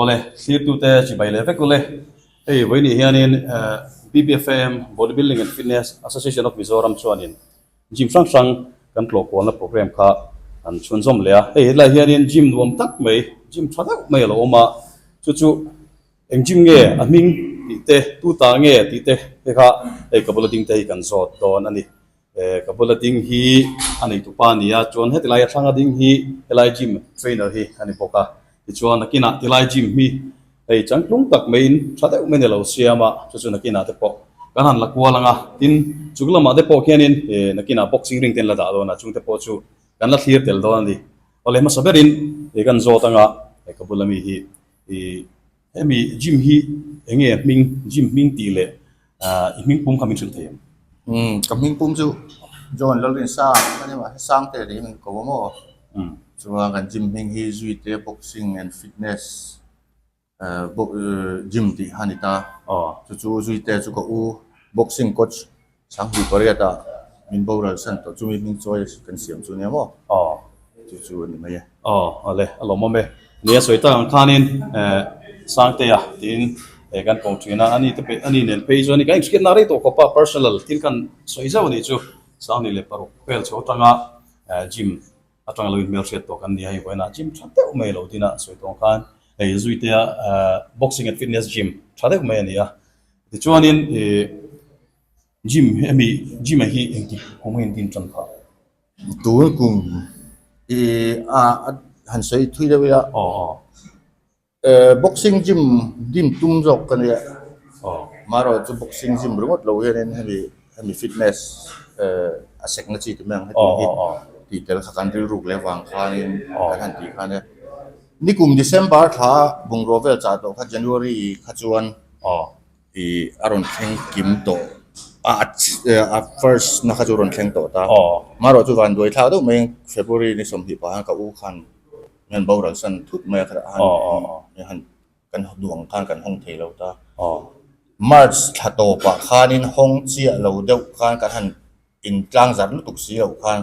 Awle thlir tu te chi bai leh vek awle hei vawi nih hian in eh BBFAM Body Building and Fitness Association of Mizoram chuan in gym hrang hrang kan tlawh kual na programme kha an chhun zawm leh a hei helai hian in gym nuam tak mai gym tha deuh mai alo awm a chu chu Engtin nge a hming? tih te, tu tah nge? tih te te kha hei ka bula ding te hi kan zawt dawn a ni. Eh, ka bula ding hi a neitu pa a ni a, chuan hetilaia thlanga ding hi helai gym trainer hi a ni bawk a. Tichuan a kinah tilai gym hi hei changtlung tak maiin tha deuh main i lo siam a, chu chu na kinah te pawh kan han la kual ang a. Tin, chuk lamah te pawh khianin eh na kinah boxing ring te in la dah dawn a, chungte pawh chu kan la thlir tel dawn a ni. Awle hmasa berin eh kan zawt ang a, hei ka bula mi hi Ih, hemi gym hi eng nge hming, gym hming tih leh i hming pum kha min hrilh thei ang? Umm, ka hming pum chu John Lalrinsa a ni, mahse a sang te leh hi min ko a maw? Umm. Chuan kan gym hming hi zui te boxing and fitness, gym tih a ni ta. Aw. Chu chu zui te chu ka u, boxing coach. Chhangpui pariat ah min boral san tawh chu mi hming chuai a kan siam chu nia maw? Aw. Chu chu a ni mai e. Aw, a le, a lawmawm e. Ni a sawi tak ang khanin Sangtea tiin he kan kawng thin a, ani te pawh, ani nen phei chuan kan inhriatna rei tawh khawpa personal thil kan sawi zauh a nih chu. Sangni leh paruk hmel chho atanga Jim Atanga lo inhmelhriat tawh kan nia hei huainah gym tha deuh mai lo din a sawi tawng khan hei zuitea boxing and fitness gym tha deuh mai a ni a. Tichuanin gym hemi gym a hi engtik kung engtin a tan phah? Tun kung i a han sawi thui deuh i a. Ehh boxing gym din tum zawk ka nia mahraw chu boxing gym ringawt lo hianin hemi hemi fitness ehh a sekna chi te mai ang hetiang hi tih tel kha kan rilruk leh vang khanin kan han tih kha ania nikum December thla bungraw vel chah tawh kha January kha chuan ih a rawn thleng kim tawh a first na kha chu a rawn thleng tawh ta mahraw chu vanduai thlak deuh mai February ni sawmhnih pahin ka u khan Mian boral san thut mai a khat a han kan duang khan kan hawng thei lo ta. March thla tawpah khanin hawng chiah lo deuh khan kan han intlang zar lutuk si lo khan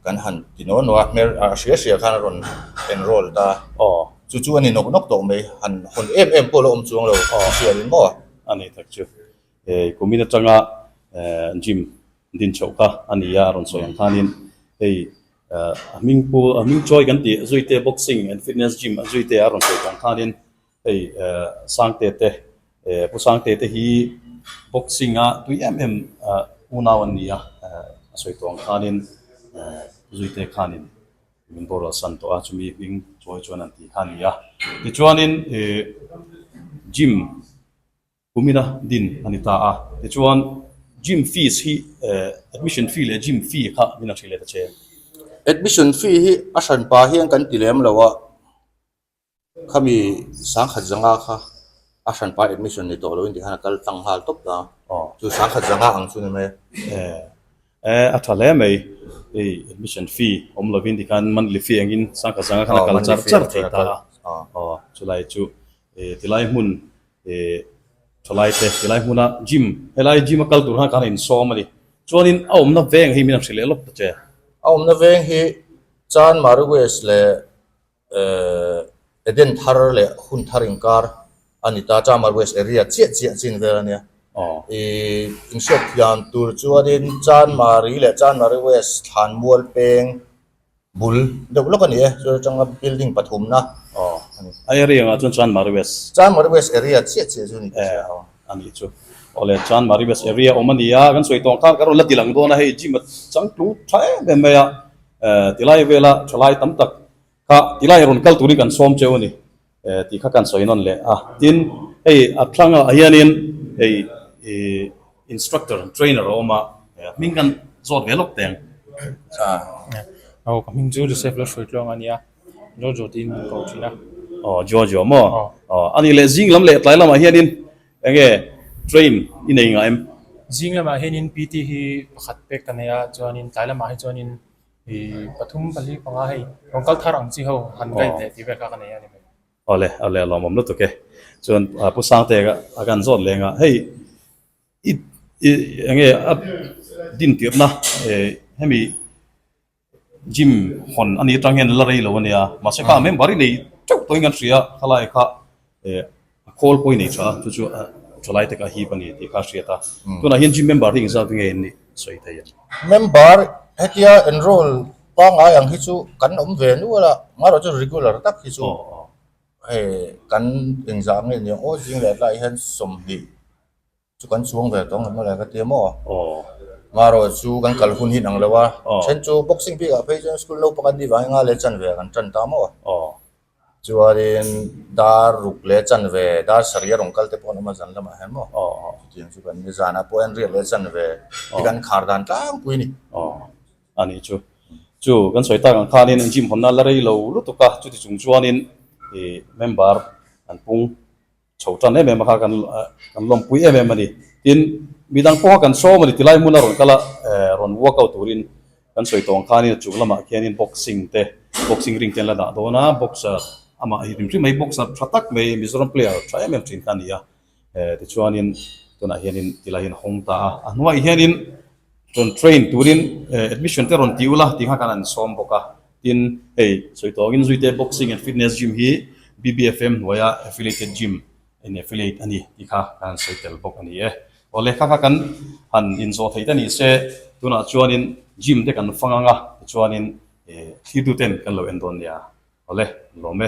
kan han ti naw naw a, hmer a hria hria khan a rawn enroll ta. Chu chu a ni nawk nawk tawh mai, han hawn em em pawh la awm chuang lo ka hria rin maw? A ni tak chu. Hei kumin atanga gym din chhoh kha a ni a, a rawn sawi ang khanin hei A hming pu a hming chawi kan tih zuite boxing and fitness gym a zuite a rawn sawi chang khanin hei sangte te pu sangte te hi boxing a tui em em unau an ni a a sawi tawh ang khanin zuite khanin min boruak san tawh a chumi hming chawi chuan an tih kha a ni a tichuanin gym Pumina din a ni ta a, tichuan gym fees hi admission fee leh gym fee kha min a hrilh let a chen. Admission fee hi a hran pa hian kan ti lem lo a, khami sangkhat zanga kha a hran pa admission ni tawh lo in tih khan a kal tlang nghal tawp ta, chu sangkhat zanga ang chu ni mai a. Eh a tha hle mai, hei admission fee awm lo in tih khan monthly fee ang in sangkhat zanga khan a kal char char thei ta a, aw chulai chu ti lai hmun He thalai te helai hmuna gym helai gym a kal tur khan ka han insawm a ni chuanin a awmna veng hi min han hrilh leh lawk ta che. A awmna veng hi chan Maru West leh Eden thar leh hun thar inkar a ni ta, chan Maru West area chiah chiah chin vel a nia. I inhriat thiam tur chuanin chan Mari leh chan Maru West thlan mual peng Bul deuh lawk a ni e, chu changa building pathumna aw a ni. A area ang ah chuan Chuan Mari West. Chuan Mari West area chiah chiah chu a ni tih a hriat ang. Eh a ni chu. Awle Chuan Mari West area a awm a ni a, kan sawi tawng khan ka rawn la tih lang dawn a, hei gym a changtlung tha em em mai a, eh tilai vela thalai tam tak kha tilai rawn kal turin kan sawm cheu a ni. Tih kha kan sawi nawn leh a. Tin, hei a thlangah hianin hei instructor, trainer a awm a, a hming kan zawt ve lawk teng. Aw, ka hming chu Joseph Lalhruai Tluang a nia, Jojo tiin min ko thin a. Aw, Jojo maw? Aw, a nih leh zing lam leh tlai lamah hianin enge train i nei ngah em? Zing lamah hianin PT hi pakhat pek ka nei a, chuanin tlai lamah hi chuanin. Pathum pali panga hei rawn kal thar ang chi ho han guide leh tih vel kha ka nei a ni mai. Awle, awle a lawmawm lutuk e. Chuan Pu Sangte a kan zawt leng a, hei i enge a din tirna e hemi gym hawn a ni atang hian la rei lo a nia, mahse kha member i nei teuh tawhin kan hria, khalai kha A call pawh i nei tha a, chu chu a chawlai takah hip a ni tih kha a hriat a. Tunah hian gym member hi engzat nge an nih sawi thei ang? Member, Hetia enroll pangngai ang hi chu kan awm ve nual a, amaherawh chu regular tak hi chu hei kan engzah nge ni ang aw zing leh tlaiah hian sawmhnih. Chu kan chuang ve tawng emaw le ka ti maw? Aw. Marawh chu kan kal hun hi nang lo a, then chu boxing bik ah phei chuan school naupang an ni vang in nga leh chan ve ah kan tan ta maw? Aw. Chuan in dar ruk leh chan ve, dar sarih a rawn kal te pawh an awm a zan lam ah hian maw? Aw aw. Chutiang chu kan ni, zan ah pawh hian riat leh chan ve hi kan khar dan tlang pui a ni. Aw. A ni chu. Chu kan sawi tak ang khan in gym hawn nan la rei lo lutuk a, chuti chung chuan in member an pung Chho tan em em a kha kan kan lawmpui em em a ni. Tin, mi dang pawh kha kan sawm a ni. Tilai hmuna rawn kal a rawn workout turin kan sawi tawng khanin a chung lamah khianin boxing te, boxing ring te an la dah dawn a. Boxer amah hi hrim hrim mai, boxer tha tak mai, Mizoram player tha em em thin kha a ni a. Tichuanin tunah hianin tilai hian a hawng ta a. A hnuaiah hianin rawn train turin admission te rawn ti ula tih kha kan an sawm bawk a. Tin, hei sawi tuangin Zuite Boxing and Fitness Gym hi BBFM hnuaia affiliated gym in affiliate a ni tih kha ka han sawi tel bawk a ni e. Aw lehkha kha kan han inzawh theih ta ni se, tunah chuanin gym te kan fang anga tichuanin thlir tuten kan lo en dawn nia. Awle, ni lawm e.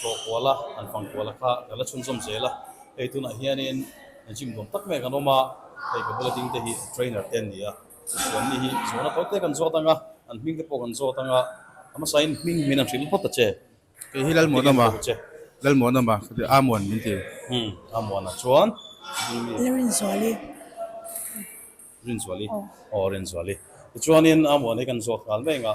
Tlawh kual a, an fang kual a kha ka la chhun zawm zel a, hei tunah hianin gym nuam tak mai kan awm a, hei ka bula dingte hi trainer te an ni a, Hristian mi hi zual a tawte kan zawt ang a, an hming te pawh kan zawt ang a, a hmasain hming min an hrilh phawt a che. Kei hi Lalmuana ma, Lalmuana ma, khuatir A Muan min ti. Hum, A Muana chuan hming mi. Le Rinzuali. Rinzuali, aw Rinzuali. Tichuanin A Muan hi kan zawt nghal mai ang a.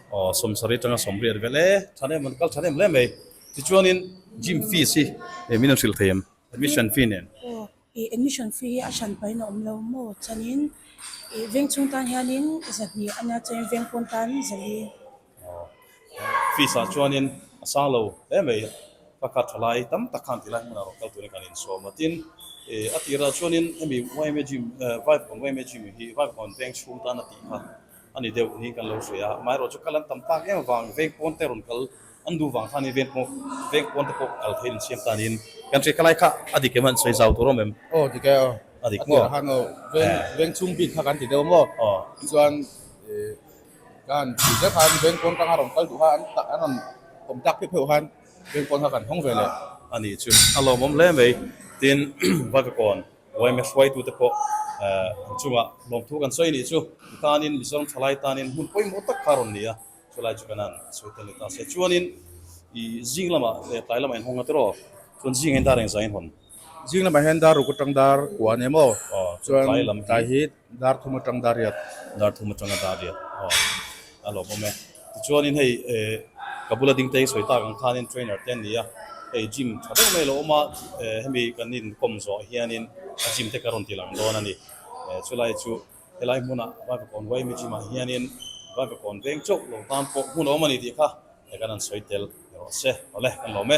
Aw sawmsarih atanga sawm riat velh e, than em an kal than em hle mai. Tichuanin gym fees hi min han hrilh thei em? Admission fee nen? Aw ih admission fee hi a hran pahin a awm lo maw chuanin ih veng chhung tan hianin zahnih a nia chuan veng pawn tan zali. Aw fees ah chuanin a sang lo hle mai. Ka kha thalai tam tak khan ti lai hmunah rawn kal turin kan insawm a tin ih a tirah chuanin hemi yma gym vai bakhawn yma gym hi vai bakhawn veng chhung tan a tih kha. A ni deuh hi kan lo hre a, amaherawh chu kal an tam tak em avang vengpawn te rawn kal an duh vang khan hi vengpawn te pawh kal theih insiam tan in kan hre ka lai kha a dik em han sawi zau tur awm em? Aw dik e aw a dik maw? A tirah han aw veng veng chhung bik kha kan ti deuh maw? Aw tichuan ka han ti zel khan vengpawn tanga rawn kal duh kha an tah an rawn awm tak pheuh pheuh khan vengpawn kha kan hawng ve leh. A nih chu a lawmawm hle mai tin Vavekawn. Uaime hruaitute pawh an chungah lawm thu kan sawi nih chu mi tanin, Mizoram thalai tanin hmun pawimawh tak kha a rawn ni a, chulai chu kan a chho tel ni ta se. Chuanin i zing lama leh tlai lama inhawnga te rawh, chuan zingah hian dar engzah inhawn? Zing lamah hian dar ruk atang dar kuan emaw? Chuan tlai hi Dar thum atang dah riat. Dar thum atanga dah riat aw a lawm awm e. Tichuanin hei ka bula ding te hi sawi tak ang khanin trainer te an ni a, hei gym tha deuh mai a lo awm a, hemi kan inkawm zawh hianin a gym te ka rawn tilang dawn a ni. Chulai chu helai hmunah Vaivakawn YME gym ah hianin Vaivakawn veng chauh lo tan pawh hmu lo awm a ni tih kha kan han sawi tel ni awh se awle kan lawm e.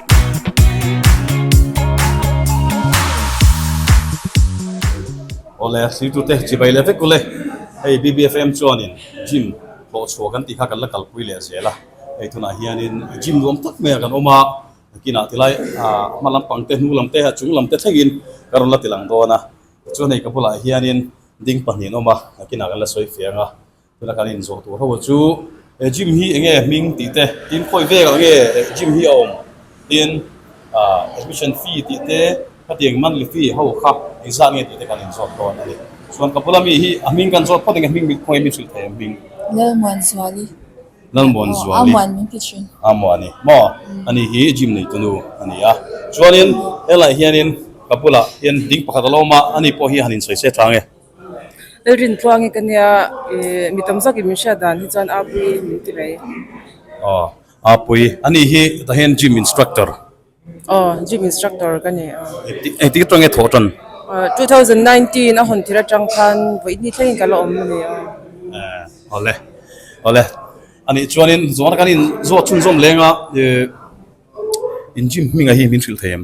Awle hritute chibai le vek ule, hei BBFM chuanin gym hlawh chhuah kan tih kha kan la kalpui leh zel a, hei tunah hianin gym nuam tak maia kan awm a, kinah tilai hma lampang te, hnung lam te, a chung lam te thlengin ka rawn la ti lang dawn a, tichuan hei ka bulah hianin ding pahnihin a awm a, a kinah kan la sawi fiang a. Tuna kan in zawh tur ho chu he gym hi enge a hming tih te tin khawi vek ah nge gym hi a awm tin admission fee tih te khatiang in monthly fee ho kha engzah nge tih te kan in zawt dawn a ni. Chuan ka bula mi hi a hming kan zawt phawt enge hming bik khawngaih mi hrilh theih ang hming. Lalmuan Zuali. Lalmuan Zuali. Aa muan min ti thin. Aa muan i maw? A ni hi gym nei tunu a ni a. Chuan in helai hian in ka bula hian ding pakhat a lo awm a a ni pawh hi han in sawi se tlang e. Rin tluang hi ka nia, ih, mi tam zak in min hriat dan hi chuan Aa Pui in min ti mai. Aw, Aa Pui, anih hi tah hian gym instructor? Aw, gym instructor ka ni. Eng tik aṭang i thawh ṭan? Two thousand nineteen a hawn thir aṭang khan vawi ni thlengin ka la awm a ni. Aw, aw le, aw le. Anih chuanin zawng atang hian kan in zawh chhun zawm leng a, ih, in gym hming ah hian min hrilh thei em?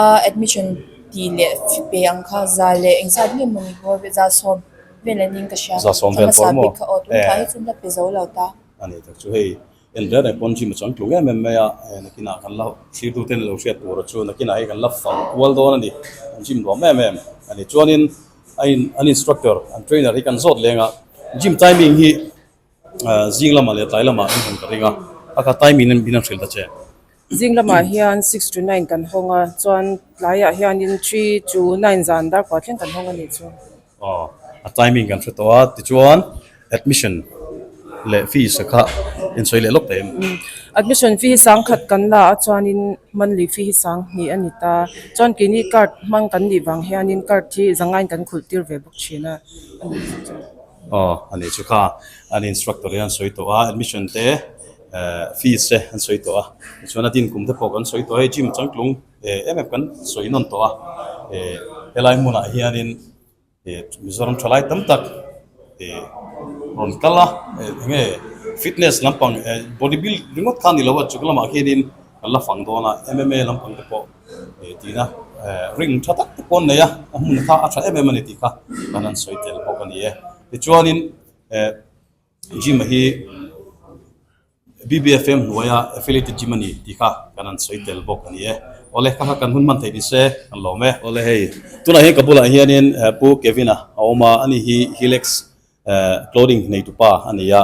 a admission tih leh pe ang kha za leh eng zat ngei mawni hmawr ve za sawm vel an ning ka hria ka hmasa ber kha aw tlangah hi chu hla pe zo lo ta. Zing lamah leh tlai lamah in han ka ring a, a ka time in min han hril ta che. Zing lamah hian six to nine kan hawng a, chuan tlaiah hianin three to nine zan dar kua thleng kan hawng a nih chu. Aw, a time in kan hre tawh a, tichuan admission leh fees a kha in sawi leh lawk ta em? Admission fee hi sang khat kan la a chuanin monthly fee hi sang hnih a ni ta, chuan keini card hmang kan nih vang hianin card hi zangain kan khulh tir ve bawk thin a. Aw a ni chu kha an instructor hi an sawi tawh a admission te fees te an sawi tawh a tichuan a din kum te pawh kan sawi tawh a hei gym a changtlung em em kan sawi nawn tawh a helai hmunah hian in mizoram tha lai tam tak rawn kal a eng nge fitness lampang body build ringawt khan a ni lo a chung lamah khian in-- Kan la fang dawn a, MMA lampang te pawh he tina ring tha tak te paw'n nei a, a hmun kha a tha em em a ni tih kha kan han sawi tel bawk a ni e. Tichuanin gym-a hi BBFM hnuaia affiliated gym a ni tih kha kan han sawi tel bawk a ni e. Awle, ka kha kan hun hman thei ni se kan lawm e. Awle hei, tunah hian ka bulah hianin Pu Kevin-a a awm a, a ni hi Hilex Clothing hneihtu pa a ni a,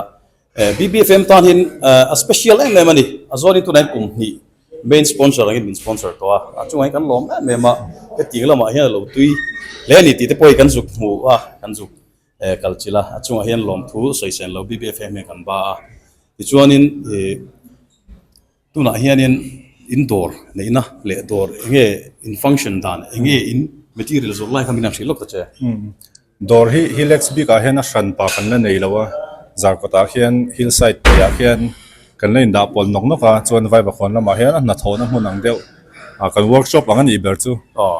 BBFM tan hin a special em em a ni. A zuarin tunah hian kum hnih main sponsor angin min sponsor tawh a, a chungah hian kan lawm em em a, hetiang lamah hian a lo tui hle a ni tih te pawh hi kan zuk hmu a, kan zuk kal chilh a, a chungah hian lawmthu sawi sen lo BBFM hi a kan ba a. Tichuanin ih. Tunah hianin in dawr neihna leh dawr eng nge in function dan eng nge in material zawrh lai kha min han hrih lawk ta che. Dawr hi hillets bik ah hian a hran pah kan la nei lo a, zar kawtah hian hillside pawi ah hian kan la in dah pawl nawk nawk a, chuan vaiva khawn lamah hian a hna thawhna hmun ang deuh ah kan workshop ang a nih ber chu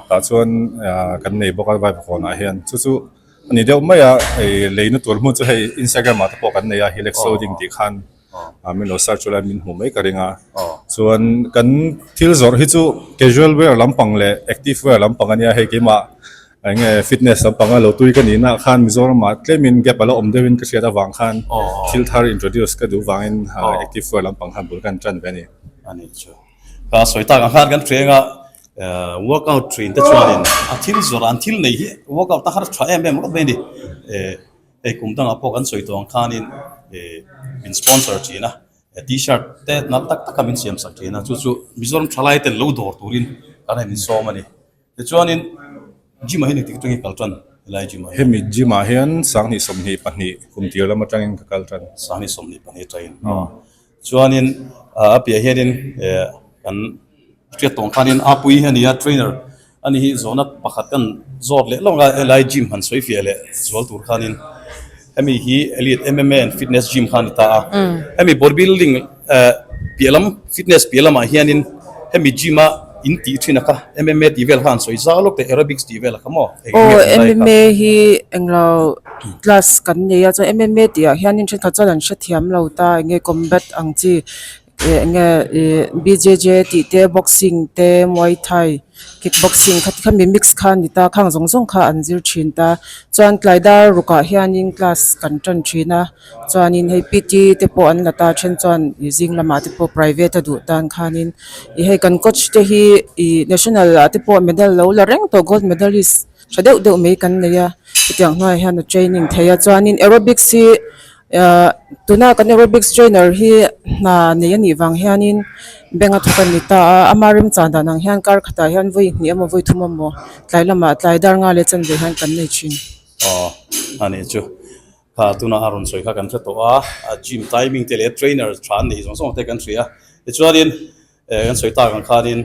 tah chuan kan nei bawk a vaiva khawn ah hian chu chu a ni deuh mai a, hei lei na tur hmun chu hei Instagram ah te pawh kan nei a hillets loading tih khan. ah mino sir chu lai min hmuh mai ka ring a chuan kan thil zawrh hi chu casual wear lampang leh active wear lampang a nia hei keimah eng nge fitness lampang a lo tui ka nihna ah khan mizorama tlem gap a la awm deuh in ka hriat avang khan thil thar introduce ka duh vang in active wear lampang khan bul ka han tan ve a ni a ni chu ka sawi tak ang khan kan hreng a eh workout ṭhin te chuan in a thil zawrh ah an thil nei hi workout a har ṭha em em rawh mai a ni eh Hei kum dangah pawh kan sawi tuang khanin min sponsor thin a, t-shirt te nal tak taka min siamsak thin a, chu chu Mizoram thalai ten lo dawr turin kan ramin sawm a ni. Tichuanin gym ah hian engtik atangin ka kal tan? Helai gym ah hian. Hemi gym ah hian Sanghnih sawmhnih pahnih kum tir lam atangin ka kal tan. Sanghnih sawmhnih pahnih atangin. Chuanin a piahah hianin kan hriat tawng khanin Apui hi a nia, trainer a ni hi zawhna pakhat kan zawt leh lawk a, helai gym han sawifiah leh zual tur khanin hemi hi Elite MMA and Fitness Gym kha a ni ta a, hemi bodybuilding piah lam, fitness piah lamah hianin hemi gym a, In tih thin a kha, MMA tih vel khan an sawi zau lawk teh, Aerobics tih vel a kha maw? Eng nge a ni lai a kha? Aw, MMA hi englo class kan nei a, chuan MMA tih ah hian in thenkhat chuan an hrethiam lo ta, eng nge combat ang chi, eh eng nge ih BJJ tih te, boxing te, muay thai, kick boxing kha ti kha mi mix kha a ni ta, khang zawng zawng kha an zir thin ta, chuan tlai dar ruk ah hian in class kan tan thin a. Chuanin hei PT te pawh an la ta a then chuan ih zing lamah te pawh private a duh tan khanin ih hei kan coach te hi ih national ah te pawh medal lo la reng tawh gold medalist tha deuh deuh mai kan nei a hetiang hnuaiah hian a training thei a chuanin aerobics hi ah tuna kan aerobics trainer hi hna nei a nih vang hianin bank a thawk a ni ta a ama remchang dan ang hian kar khatah hian vawi hnih emaw vawi thum emaw tlai lamah tlai dar nghal leh chanve hian kan nei thin. Kha tunah a rawn sawi kha kan hre tawh a, a gym timing te leh trainer tha an neih zawng zawng te kan hria. Tichuanin eh kan sawi tak ang khanin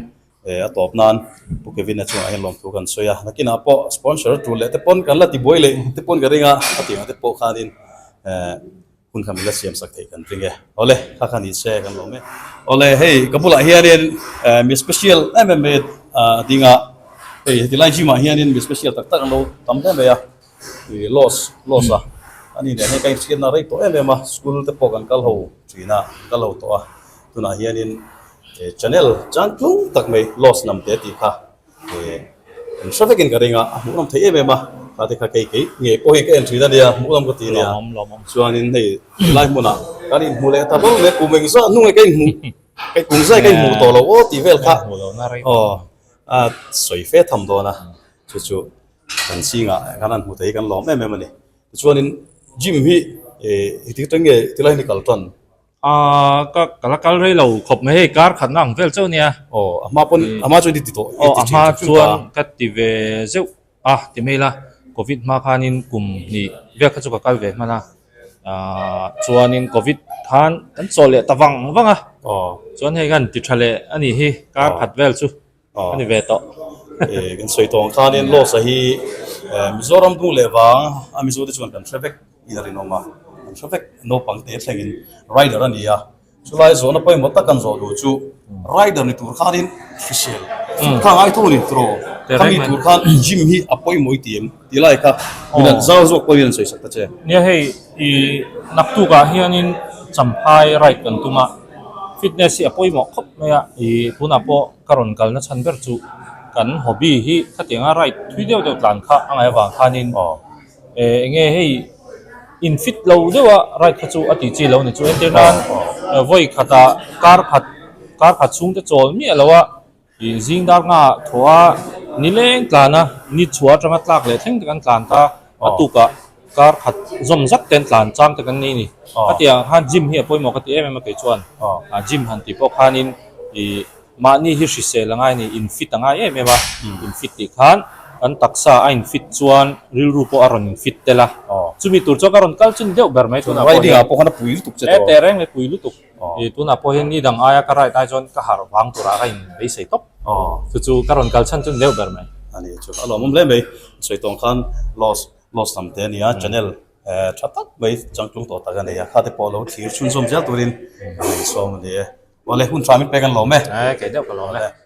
eh a tawp nan Pu Kevin-a chungah hian lawmthu kan sawi a, nakinah pawh sponsor tul leh te pawn kan la ti buai leh te pawn ka ring a, a tih ang te pawh khanin eh hun kha min la siam sak theih kan ring e. Awle kha kha ni se kan lawm e. Awle hei ka bulah hianin eh mi special em em mai a ding a, hei heti lai gym-ah hianin mi special tak tak an lo tam hle mai a. Ih loss loss a ani nen hei ka inthiana rei tawh em em a school te pawh kan kal ho thin a an kal ho tawh a tunah hianin eh channel chang tlung tak mai loss nam te tih kha eh an hre vekin ka ring a a hmuh nawm thei em em a tate kha kei kei ngei pawh hi ka en thin a nia hmuh lam ka ti nia chuanin hei helai hmunah kan in hmu leh ta hlawm em kum engzah a hnungah ka in hmuh hei kum zai ka in hmuh tawh lo aw tih vel kha aw a sawi fe tham dawn a chu chu kan sing ah khan an hmu thei kan lawm em em a ni tichuan in gym hi eh ti tang nge ti lai ni kal tawn ah ka ka la kal rei lo khawp mai hei kar khat na ang vel chauh a nia oh a hma pawn a hma chu ni ti tawh oh a hma chuan ka ti ve zeuh a ti mai la covid hma khan in kum hnih vel kha chu ka kal ve hman a ah chuan in covid khan kan chaw leh ta vang vang a oh chuan hei khan ti tha leh a nih hi kar khat vel chu. A ni ve tawh. Ehh kan sawi tawng khan hian loss a hi Mizoram hnu leh vang a Mizote chuan kan hre vek in a rinawm a, an hre vek naupang te thlengin rider a nia. Chulai zawhna pawimawh tak kan zawh duh chu rider ni tur khanin hrisel, khangai thu a ni draw, khami tur khan gym hi a pawimawh itiang. Ti lai kha, min an zau zawk pawhin an sawi sak ta che. Nia hei i naktuk ah hianin champhai right kan tum a, fitness hi a pawimawh khawp mai a, i tunah pawh ka rawn kalna chhan ber chu kan hobby hi khatianga right thui deuh deuh tlan kha a ngai avang khanin eh enge hei in fit lo deuh a right kha chu a tih chi lo ni chu entirnan vawi khatah kar khat kar khat chhungte chawl miah loh a, Ih zing dar nga thaw a, ni leng tlan a, ni chhuah atanga tlak leh thleng te kan tlan ta, a tukah kar khat zawm zat ten tlan chang te kan nei a ni. Ka ti ang khan gym hi a pawimawh ka ti em em a kei chuan, a gym han tih pawh khanin ih mahni hi hrisel angai a ni, in fit angai em em a, in fit tih khan kan taksa a in fit chuan rilru pawh a rawn in fit tel a, chumi tur chuan ka rawn kal chin deuh ber mai tunah pawh hian, heteh reng leh pui lutuk. Ih tunah pawh hian ni dang aia ka right ai chuan ka harh vang turah ka in beisei tawp. Chu chu ka rawn kal chhan chun deuh ber mai. A ni chu a lawmawm hle mai. Sawi tawng khan loss loss tam te a ni a, channel tha tak mai chang tlung tawh tak a nei a, khate pawh lo thlir chhunzawm zel turin ka ngaihsawm a ni e. Awle hun hram in pek an lawm e? Kei deuh ka lawm e.